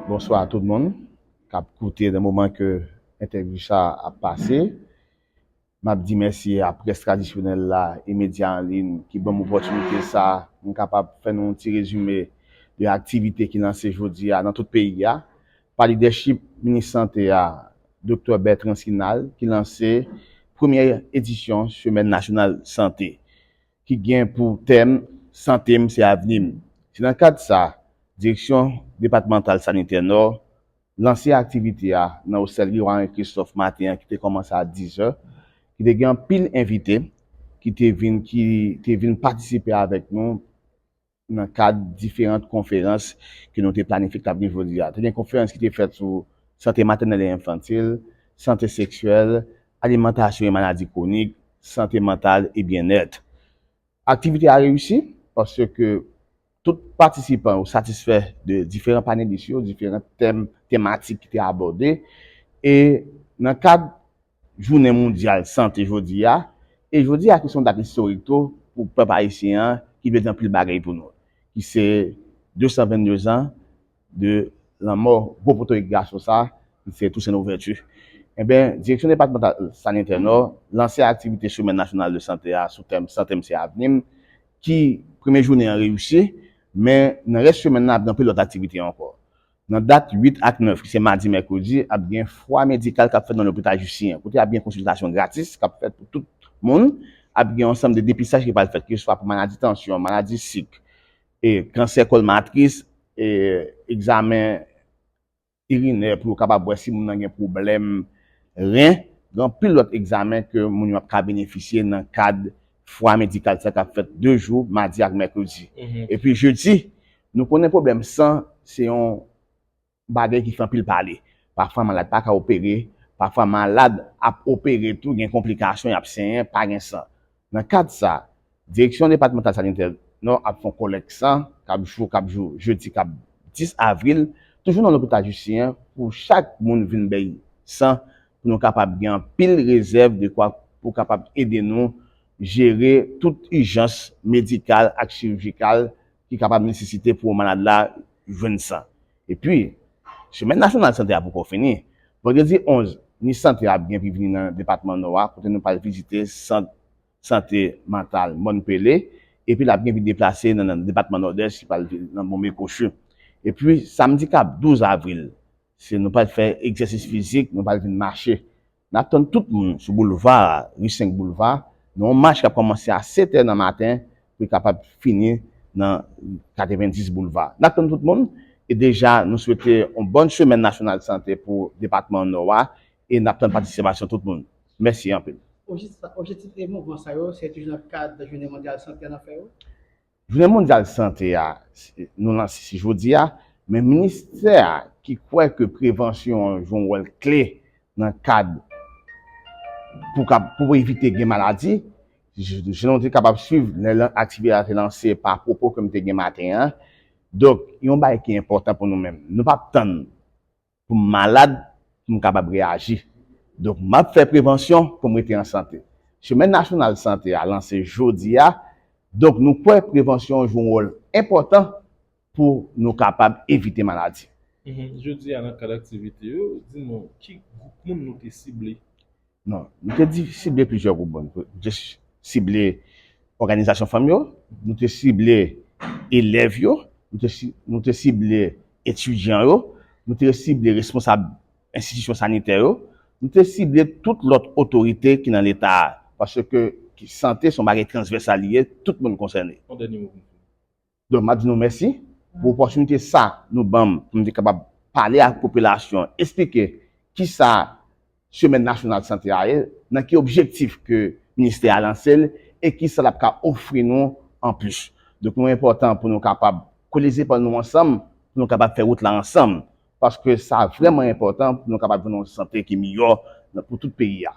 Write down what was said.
Bonswa a tout moun kap koute nan moman ke entèvyou sa ap pase. Map di mèsi a près tradisyonèl la e medya an lin ki banm opòtinite sa pou m kapab fè nou yon ti rezime de aktivite ki lanse jodi a nan tout peyi a pa lidèchip minis sante a Doktè Bertrand Sinal ki lanse premyè edisyon semèn nasyonal sante. ki gen pou tèm Sante m se avni m. Se nan kad sa, Direksyon Depatmantal Sanitè Nò lanse aktivite a nan Osèlri Warin Kristòf maten an ki te kòmanse a 10 zè, ki te gen anpil envite ki te vin ki te vin patisipe avèk nou. nan kad diferant konferans ke nou te planifye ki t ap gen jodi a. Te gen konferans ki te fèt sou sante matènèl e enfantil, sante seksyèl, alimantasyon e maladi kwonik, sante mantal e byennèt. Aktivite a reyisi paske tout patisipan yo satisfè de diferan panelis yo, diferan tèm tematik ki te abòde e nan kad Jounen mondyal sante jodi a, e jodi a ki se yon dat istorik tou pou pèp ayisyen an ki vle di anpil bagay pou nou, ki se 222 zan de lanmò gwo potorik gason sa ki se Tousen Louvèti. Enben, Direksyon Depatmantal Sanitè Nò lanse aktivite Semèn Nasyonal de Sante a sou tèm Sante m se avni m ki premye jounen an reyisi, men nan rès semèn nan ap gen anpil lòt aktivite ankò. Nan dat 8 ak 9, ki se madi, mèkredi, ap gen fwa medikal k ap fèt nan lopital Justinyen an, kote ap gen konsiltasyon gratis k ap fèt pou tout moun. Ap gen yon ansanm de depistaj ki pral fèt, keseswa pou maladi tansyon, maladi sik, kansè kòl matris, egzamen irinè pou yo kapab wè si moun nan gen pwoblèm ren, gen anpil lòt egzamen ke moun yo ap ka benefisye nan kad fwa medikal sa kap fèt 2 jou madi ak mèkredi epi jedi nou konnen pwoblèm san se yon bagay ki fè anpil pale pafwa malad paka opere pafwa malad ap opere tou gen konplikasyon yap senyen pa gen san nan kad sa direksyon depatmantal sanitè nò ap fon kolèk san kap jou kap jou jedi kap 10 avril toujou nan lopital jisyen pou chak moun vin bèy san pou nou kapab gen anpil rezèv dekwa pou kapab ede nou jere tout ijans medikal ak chirijikal ki kapab nesesite pou malad la jwenn san. Epi, semèn nasyonal sante a poko fini. Vandredi 11 ni sante ap gen vini nan depatman Nò a kote nou pral vizite sant sante mantal Mòn Pele epi lap gen vin deplase nan depatman Nòdès li pral nan Bonbekochu. Epi, samdi kap 12 avril, Si nou pral fè egzèsis fizik, nou pral vin mache. N ap tann tout moun sou boulva a, ri 5 boulva, nan yon mach k ap kòmanse a 7 è nan maten pou l kapab fini nan 90 boulva. N ap tann tout moun e deja nou swete yon bòn semèn nasyonal sante pou depatman Nò a e n ap tann patisipasyon tout moun. Mèsi anpil. Objektif mouvman sa yo se toujou nan kad Jounen mondyal sante an n ap fè yo? Jounen mondyal sante a nou lanse se jodi a, men ministè a ki kwè ke prevansyon an jwe yon wòl kle nan kad pou evite gen maladi, jan nou te kapab swiv lè aktivite a te lanse pa pwopo ke m te gen maten an. Donk, yon bagay ki enpòtan pou nou menm, nou p ap tann pou m malad pou m kapab reyaji. Donk m ap fè prevansyon pou m rete an sante. Semèn nasyonal sante a lanse jodi a, donk nou kwè prevansyon jwe yon wòl enpòtan pou nou kapab evite maladi. Jodi a nan kad aktivite yo, di nou ki gwoup moun nou te sible? Non, nou te di sible plizyè gwoup moun. Nou te sible òganizasyon fanm yo, nou te sible elèv yo, nou te sible etidyan yo, nou te sible responsab enstitisyon sanitè yo, nou te sible tout lòt otorite ki nan leta a, paske sante se yon bagay transvèsal li ye, tout moun konsène. Yon dènye mo pou m fini. Donk map di nou mèsi pou opòtinite sa nou banm pou m te kapab pale ak popilasyon an, esplike kisa semèn nasyonal sante a ye, nan ki objektif ke ministè a lanse l e kisa lap ka ofri nou anplis. Donk nou enpòtan pou nou kapab kole zepòl nou ansanm pou nou kapab fè wout la ansanm paske sa vrèman enpòtan pou nou kapab jwenn yon sante ki miyò pou tout peyi a.